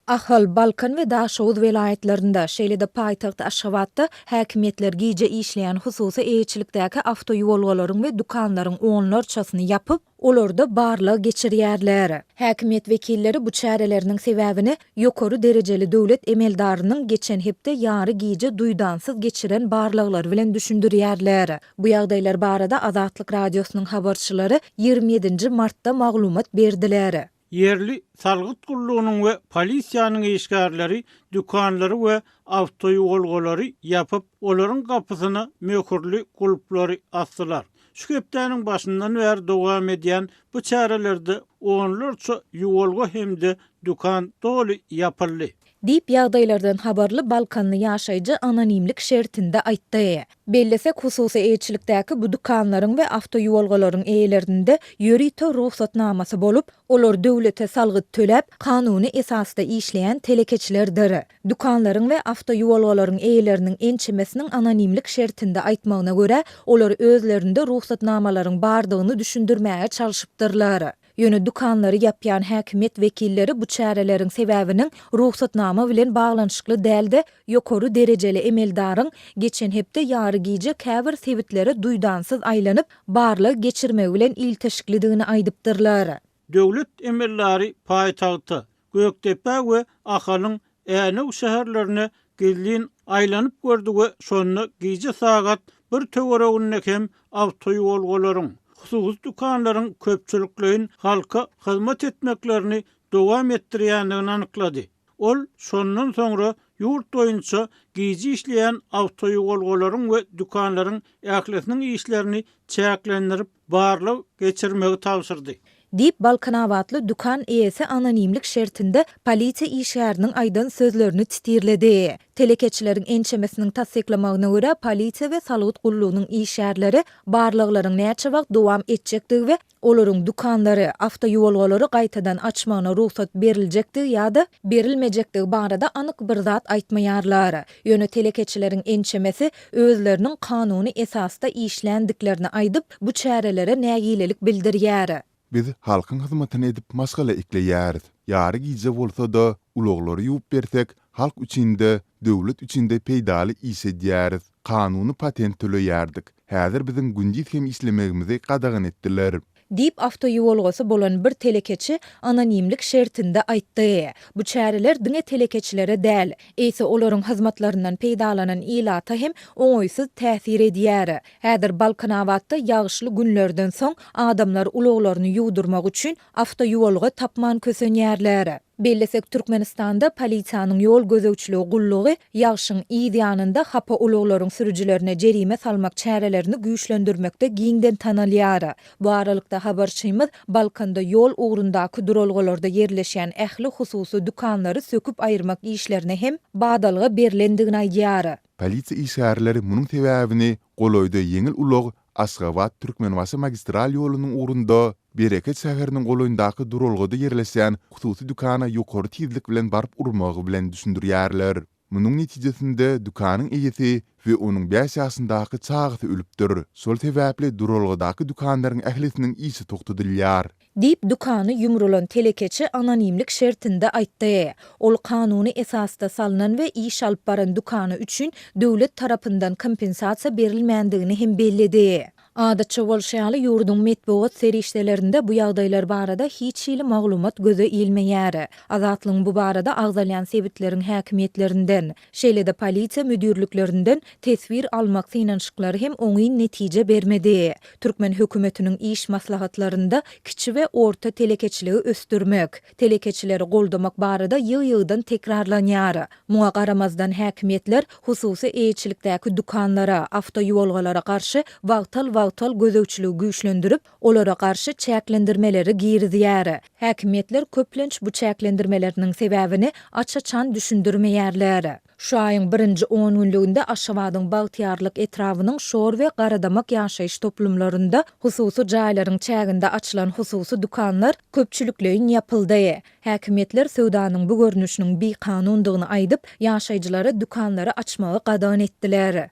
Ahal, Balkan we Daşoguz welaýatlarynda, şeýle-de paýtagt Aşgabatda häkimiýetler gije işleýän hususy eýeçilikdäki awtoýolgalaryň we dükanlaryň onlarçasyny ýapyp, olarda barlag geçirýärler. Häkimiýet wekilleri bu çäreleriniň sebäbini ýokary derejeli döwlet emeldarynyň geçen hepde ýary gije duýdansyz geçiren barlaglary bilen düşündirýärler. Bu ýagdaýlar barada Azatlyk Radiosynyň habarçylary ýigrimi ýedinji martda maglumat berdiler. Ýerli salgyt gullugynyň we polisiýanyň işgärleri dükanlary we awtoýolgalary ýapyp, olaryň gapysyna möhürli gulplary asdylar. Şu hepdäniň başyndan bäri dowam edýän bu çärelerde onlarça ýuwalga hem-de dükan doly ýapyldy. Diýip, ýagdaýlardan habarly balkanly ýaşaýjy anonimlik şertinde aýtdy. Bellesek, hususy eýeçilikdäki bu dükanlaryň we awtoýuwalgalaryň eýelerinde ýörite rugsatnamasy bolup, olar döwlete salgyt töläp, kanuny esasda işleýän telekeçilerdir. Dükanlaryň we awtoýuwalgalaryň eýeleriniň ençemesiniň anonimlik şertinde aýtmagyna görä, olar özlerinde rugsatnamalaryň bardygyny düşündirmäge çalşypdyrlar. Ýöne dükanlary ýapýan häkimiýet wekilleri bu çäreleriň sebäbiniň rugsatnama bilen baglanyşykly däl-de, ýokary derejeli emeldaryň geçen hepde ýary gije käbir sebitlere duýdansyz aýlanyp, barlag geçirmegi bilen ilteşiklidigini aýdypdyrlar. Döwlet emeldary paýtagta, Gökdepe we Ahalyň Änew şäherlerine gizlin aýlanyp gördi we şonda gije sagat bir töwereginde hem awtoýolgalaryň, hususy dükanlaryň köpçülikleýin halka hyzmat etmeklerini dowam etdirýändigini anyklady. Ol şondan soňra ýurt boýunça gije işleýän awtoýogolgalaryň we dükanlaryň ählisiniň işlerini çäklendirip, barlag geçirmegi tabşyrdy. Diýip, balkanabatly dükan eýesi anonimlik şertinde polisiýa işgäriniň aýdan sözlerini titirledi. Telekeçileriň ençemesiniň tassyklamagyna görä, polisiýa we salgyt gullugynyň işgärleri barlaglaryň näçe wagt dowam etjekdigi we olaryň dükanlary, awtoýuwalgalary gaýtadan açmagyna rugsat beriljekdigi ýa-da berilmejekdigi barada anyk bir zat aýtmaýarlar. Ýöne telekeçileriň ençemesi özleriniň kanuny esasda işländiklerini aýdyp, bu çärelere nägilelik bildirýär. Biz halkyň hyzmatyny edip maşgala ekleýäris. Ýary gije bolsa-da, ulaglary ýuwup bersek, halk üçin-de, döwlet üçin-de peýdaly iş edýäris. Kanuny patent töleýärdik. Häzir biziň gündiz hem işlemegimizi gadagan etdiler. Diýip, awtoýuwalgasy bolan bir telekeçi anonimlik şertinde aýtdy. Bu çäreler diňe telekeçilere däl, eýse olaryň hyzmatlaryndan peýdalanan ilata hem oňaýsyz täsir edýär. Häzir Balkanabatda ýagyşly günlerden soň adamlar ulaglaryny ýuwdurmak üçin awtoýuwalga tapman kösenýärler. Bellesek, Türkmenistanda Polisiýanyň ýol gözegçiligi gullugy ýagşyň yz ýanynda hapa ulaglaryň sürüjilerine jerime salmak çärelerini güýçlendirmekde giňden tanalýar. Bu aralykda, habarçymyz Balkanda ýol ugrundaky duralgalarda ýerleşýän ähli hususy dükanlary söküp aýyrmak işlerine hem badalga berlendigini aýdýar. Polisiýa işgärleri munuň sebäbini golaýda ýeňil ulag Aşgabat, Türkmenbaşy magistral ýolunyň ugrunda, Bereket şäheriniň golaýyndaky duralgada ýerleşýän hususy dükana ýokary tizlik bilen baryp urmagy bilen düşündirýärler. Munuň netijesinde dükanyň eýesi we onuň bäş ýaşyndaky çagasy ölüpdir. Şol sebäpli duralgadaky dükanlaryň ählisiniň işi togtadylýar. Diýip, dükany ýumrulan telekeçi anonimlik şertinde aýtdy. Ol kanuny esasda salnan we iş alyp baran dükany üçin döwlet tarapyndan kompensasiýa berilmändigini hem belledi. Adatça bolşy ýaly, ýurduň metbugat serişdelerinde bu ýagdaýlar barada hiç hili maglumat göze ilmeýär. Azatlygyň bu barada agzalýan sebitleriň häkimiýetlerinden, Şeýle-de polisiýa müdirliklerinden teswir almak synanyşyklary hem oňyn netije bermedi. Türkmen hökümetiniň iş maslahatlarynda kiçi we orta telekeçiligi ösdürmek, telekeçileri goldamak barada ýygy-ýygydan tekrarlanýar. Muňa garamazdan häkimiýetler hususy eýeçilikdäki dükanlara, awtoýuwalgalara garşy wagtal-wagtal gözegçiligi güýçlendirip, olara garşy çäklendirmeleri girizýär. Häkimiýetler köplenç bu çäklendirmeleriniň sebäbini aç-açan düşündirmeýärler. Şu aýyň birinji on günlüginde Aşgabadyň Bagtyýarlyk etrabynyň Şor we Garadamak ýaşaýyş toplumlarynda hususy jaýlaryň çäginde açylan hususy dükanlar köpçülikleýin ýapyldy. Häkimiýetler söwdanyň bu görnüşiniň bikanundygyny aýdyp, ýaşaýjylara dükanlary açmagy gadagan etdiler.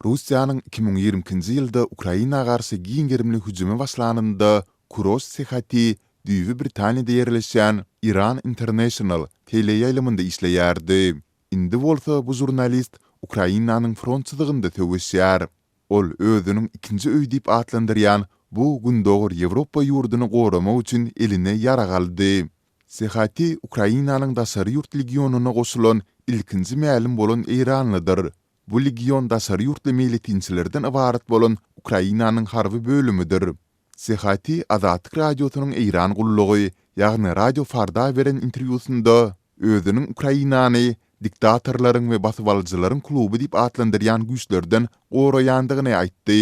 Russiýanyň iki müň ýigrimi ikinji ýylda Ukraina garşy giň gerimli hüjümi başlanynda Kuroş Sehati düýbi Britaniýada ýerleşýän Iran International teleýaýlymynda işleýärdi. Indi bolsa bu žurnalist Ukrainanyň front çyzygynda söweşýär. Ol özüniň ikinji öýi diýip atlandyrýan bu Gündogar Ýewropa ýurduny goramak üçin eline ýarag aldy. Sehati Ukrainanyň daşary ýurt legionaryna goşulan ilkinji mälim bolan eýranlydyr. Bu legion daşary ýurtly meýletinçilerden ybarat bolan Ukrainanyň harby bölümidir. Sehati Azatlyk Radiosynyň Eýran gullugy, ýagny Radio Farda beren interwýusynda özüniň Ukrainany diktatorlaryň we basybalyjylaryň kluby diýip atlandyrýan güýçlerden goraýandygyny aýtdy.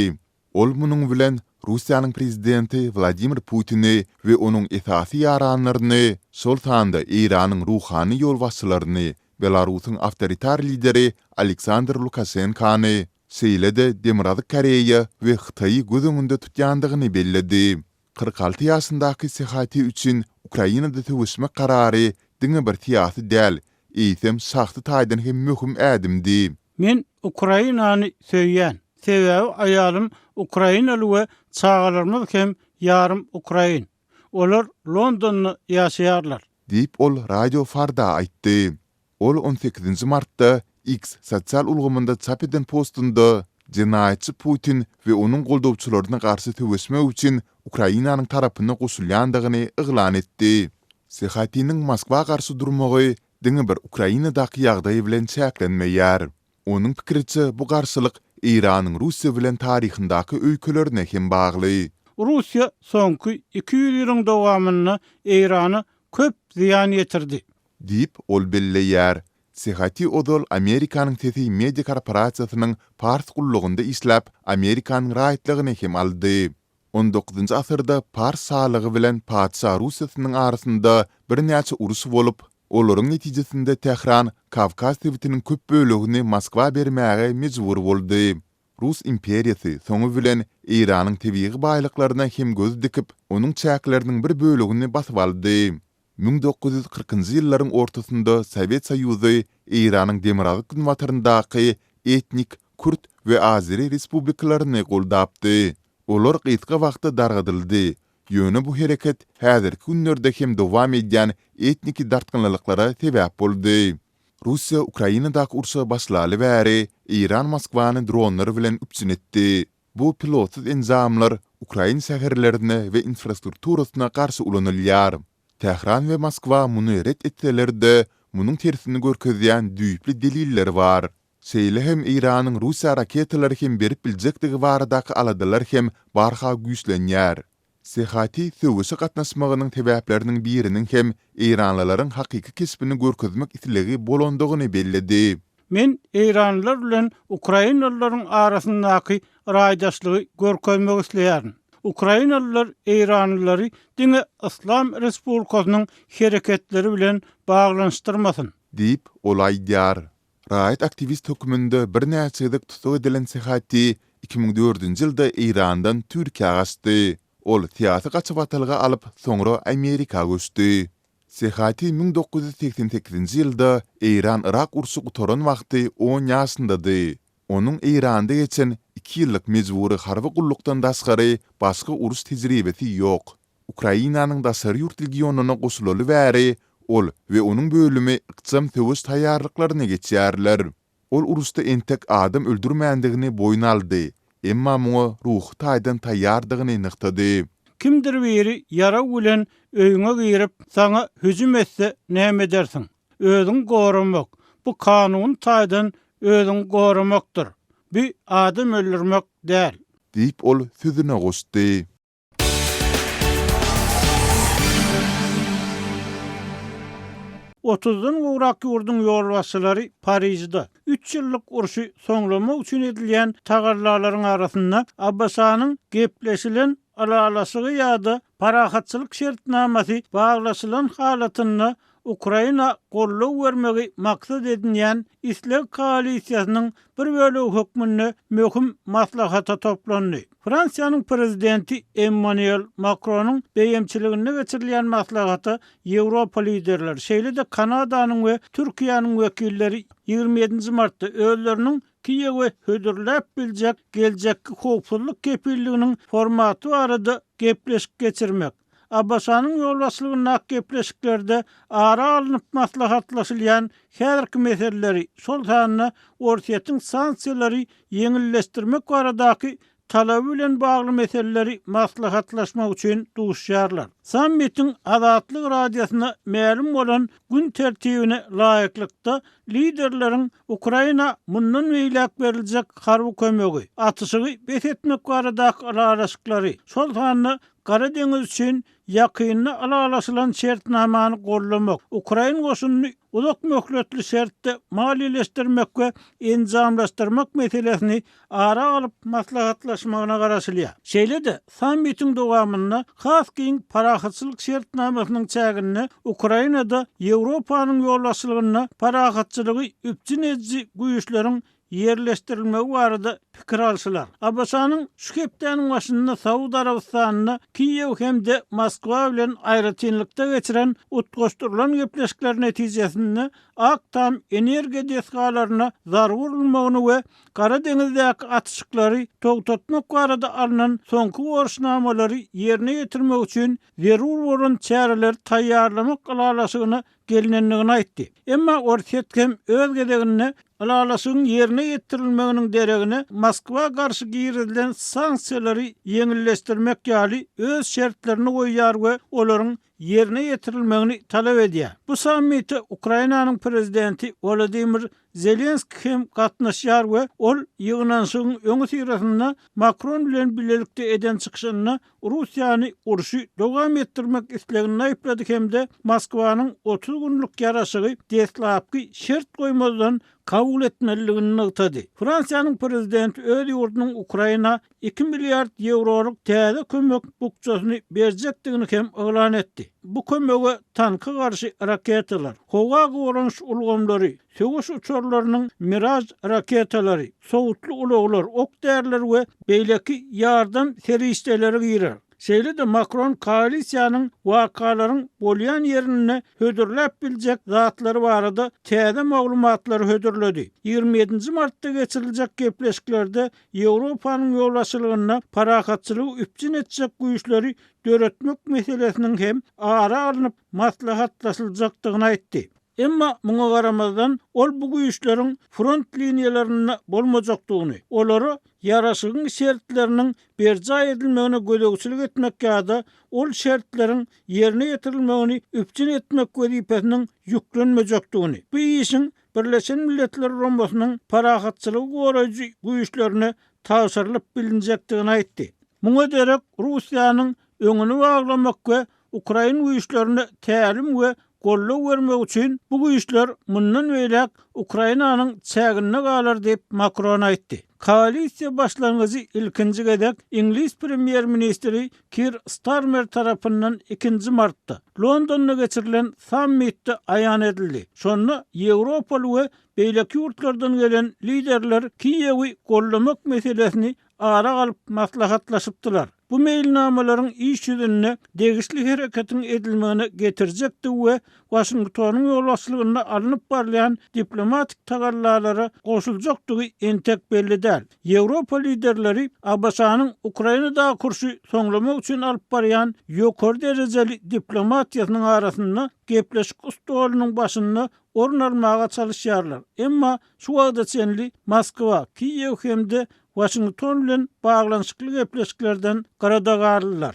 Ol munuň bilen Russiýanyň prezidenti Wladimir Putini we onuň esasy ýaranlaryny, şol sanda Eýranyň ruhany ýolbaşçylaryny, Belarusyň awtoritar lideri Aleksandr Lukaşenkany, şeýle-de Demirgazyk Koreýa we Hytaýy göz öňünde tutýandygyny belledi. Kyrk alty ýaşyndaky Sehatiý üçin Ukrainada söweşmek karary diňe bir syýasy däl, eýsem şahsy taýdan hem möhüm ädimdi. Men Ukrainany söýýän, sebäbi aýalym ukrainaly we çagalarymyz hem ýarym ukrain. Olar Londonda ýaşaýarlar. Diýip, ol Radio Farda aýtdy. Ol on sekizinji martda X sosial ulgamynda çap eden postunda, Jenaýatçy Putin we onuň goldawçylaryna garşy söweşmek üçin Ukrainanyň tarapyna goşulýandygyny yglan etdi. Sehotiniň Moskwa garşy durmagy diňe bir Ukrainadaky ýagdaý bilen çäklenmeýär. Onuň pikiriçe, bu garşylyk Eýranyň Russiýa bilen taryhyndaky öýkelerine hem bagly. Russiýa soňky iki ýüz ýylyň dowamynda Eýrana köp zyýan ýetirdi. Diýip, ol belleýär. Sehati ozal Amerikanyň Sesi media korporasiýasynyň Pars gullugynda işläp, Amerikanyň raýatlygyny hem aldy. On dokuzynjy asyrda Pars şalygy bilen Patyşa Russiýasynyň arasynda birnäçe uruş bolup, olaryň netijesinde Tähran Kawkaz sebitiniň köp bölegini Moskwa bermäge mejbur boldy. Rus imperiýasy soňy bilen Eýranyň tebigy baýlyklaryna hem göz dikip, onuň çäkleriniň bir bölegini basyp aldy. Müň dokuz ýüz kyrkynjy ýyllaryň ortasynda Sowet Soýuzy Eýranyň demirgazyk-günbataryndaky etnik kürt we azeri respublikalaryny goldapdy. Olar gysga wagtda dargadyldy, ýöne bu hereket häzirki günlerde hem dowam edýän etniki dartgynlylyklara sebäp boldy. Russiýa Ukrainadaky urşa başlaly bäri, Eýran Moskwany dronlar bilen üpjün etdi. Bu pilotsyz enjamlar ukrain şäherlerine we infrastrukturasyna garşy ulanylýar. Tähran we Moskwa muny ret etseler-de, munuň tersini görkezýän düýpli deliller bar. Şeýle hem Eýranyň Russiýa raketalary hem berip biljekdigi baradaky aladalar hem barha güýçlenýär. Sehati söweşe gatnaşmagynyň sebäpleriniň biriniň hem eýranlylaryň hakyky keşbini görkezmek islegi bolandygyny belledi. Men eýranlylar bilen ukrainalylaryň arasyndaky raýdaşlygy görkezmek isleýärin. Ukrainalylar eýranlylary diňe Yslam Respublikasynyň hereketleri bilen baglanyşdyrmasyn. Diýip, ol aýdýar. Raýat aktiwist hökmünde birnäçe gezek tussag edilen Sehati iki müň dördünji ýylda Eýrandan Türkiýä gaçdy. Ol syýasy gaçybatalga alyp, soňra Amerika göçdi. Sehati müň dokuz ýüz segsen sekizinji ýylda Eýran-Yrak urşy gutaran wagty on ýaşyndady. Onuň Eýranda geçen iki ýyllyk mejbury harby gullukdan daşgary başga uruş tejribesi ýok. Ukrainanyň daşary ýurt legionaryna goşulaly bäri, ol we onuň bölümi ykjam söweş taýýarlyklaryna geçýärler. Ol uruşda entek adam öldürmändigini boýun aldy, emma muňa ruhy taýdan taýýardygyny nygtady. Kimdir biri ýarag bilen öýüňe girip, saňa hüjüm etse näme edersiň? Özüňi goramak, bu kanuny taýdan özüňi goramakdyr. Bu adam öldürmek däl. Diýip, ol sözüne goşdy. Otuzdan gowrak ýurduň ýolbaşçylary Parižde üç ýyllyk urşy soňlamak üçin edilýän tagallalaryň arasynda ABŞ-nyň gepleşilen ylalaşygy ýa-da parahatçylyk şertnamasy baglaşylan halatynda Ukraina goldaw bermegi maksat edinýän Isleg koalisiýasynyň bir bölegi hökmünde möhüm maslahata toplandy. Fransiýanyň prezidenti Emmanuel Makronyň beýemçiliginde geçirilýän maslahata Ýewropa liderleri, şeýle-de Kanadanyň we Türkiýäniň wekilleri ýigrimi ýedinji martda özleriniň Kiýewe hödürläp biljek geljekki howpsuzlyk kepilliginiň formaty barada gepleşik geçirmek, ABŞ-nyň ýolbaşçylygyndaky gepleşiklerde ara alnyp maslahatlaşylýan häzirki meseleleri, şol sanda Orsýetiň sanksiýalary ýeňilleşdirmek baradaky talaby bilen bagly meseleleri maslahatlaşmak üçin duşýarlar. Sammitiň Azatlyk Radiosyna mälim bolan gün tertibine laýyklykda, liderleriň Ukraina mundan beýläk beriljek harby kömegi, atyşygy bes etmek baradaky ylalaşyklary, şol sanda Gara deňiz üçin ýakynda ylalaşylan şertnamany goldamak, ukrain goşunyny uzak möhletli şertde maliýeleşdirmek we enjamlaşdyrmak meselesini ara alyp maslahatlaşmagyna garaşylýar. Şeýle-de, sammitiň dowamynda has giň parahatçylyk şertnamasynyň çäginde Ukrainada Ýewropanyň ýolbaşçylygynda parahatçylygy üpjün ediji güýçleriň ýerleşdirilmegi barada pikir alşylar. ABŞ-nyň şu hepdäniň başynda Saud Arabystanynda Kiýew hem-de Moskwa bilen aýratynlykda geçiren utgaşdyrylan gepleşikler netijesinde Ak tam energiýa desgalaryna zarba urulmagyny we Gara deňizdäki atyşyklary togtatmak barada alnan soňky borçnamalary ýerine ýetirmek üçin zerur bolan çäreleri taýýarlamak ylalaşygyna gelnendigini aýtdy. Emma Orsýet hem öz gezeginde ylalaşygyň ýerine ýetirilmeginiň deregine Moskwa garşy girizilen sanksiýalary ýeňilleşdirmek ýaly öz şertlerini goýýar we olaryň ýerine ýetirilmegini talap edýär. Bu sammite Ukrainanyň prezidenti Wolodymyr Zelenski hem gatnaşýar we ol ýygnanyşygyň öňüsyrasynda Makron bilen bilelikde eden çykyşynda Russiýany urşy dowam etdirmek isleginde aýyplady hem-de Moskwanyň otuz günlük ýaraşygy deslapky şert goýmazdan kabul etmelidigini nygtady. Fransiýanyň prezidenti öz ýurdunyň Ukraina iki milliard ýewrolyk täze kömek bukjasyny berjekdigini hem yglan etdi. Bu kömege tanka garşy raketalar, howa goranyş ulgamlary, söweş uçarlarynyň Miraj raketalary, sowutly ulaglar, ok-däriler we beýleki ýardam serişdeleri girer. Şeýle-de Makron koalisiýanyň wakalaryň bolýan ýerinde hödürläp biljek zatlary barada täze maglumatlary hödürledi. Ýigrimi ýedinji martda geçiriljek gepleşiklerde Ýewropanyň ýolbaşçylygynda parahatçylygy üpjün etjek güýçleri döretmek meselesiniň hem ara alnyp maslahatlaşyljakdygyny aýtdy. Emma muňa garamazdan, ol bu güýçleriň front liniýalarynda bolmajakdygyny, olara ýaraşygyň şertleriniň berjaý edilmegine gözegçilik etmek ýa-da ol şertleriň ýerine ýetirilmegini üpjün etmek wezipesiniň ýüklenmejekdigini, bu işiň Birleşen Milletler Guramasynyň parahatçylygy goraýjy güýçlerine tabşyrylyp bilinjekdigini aýtdy. Muňa derek Russiýanyň öňüni baglamak we ukrain güýçlerine tälim we goldaw bermek üçin bu güýçler mundan beýläk Ukrainanyň çäginde galar diýip Makron aýtdy. Koalisiýa başlangyjy ilkinji gezek iňlis premýer-ministri Kir Starmer tarapyndan ikinji martda Londonda geçirilen sammitde aýan edildi. Şonda ýewropaly we beýleki ýurtlardan gelen liderler Kiýewi goldamak meselesini ara alyp maslahatlaşypdylar. Bu meýilnamalaryň iş ýüzünde degişli hereketiň edilmegine getirjekdigi we Waşingtonyň ýolbaşçylygynda alnyp barylýan diplomatik tagallalara goşuljakdygy entek belli däl. Ýewropa liderleri ABŞ-nyň Ukrainadaky urşy soňlamak üçin alyp barýan ýokary derejeli diplomatiýasynyň arasynda gepleşik stolunyň başynda orun almaga çalyşýarlar, emma şu wagta çenli Moskwa, Kiýew hem-de Waşington bilen baglanyşykly gepleşiklerden gyradagarlylar.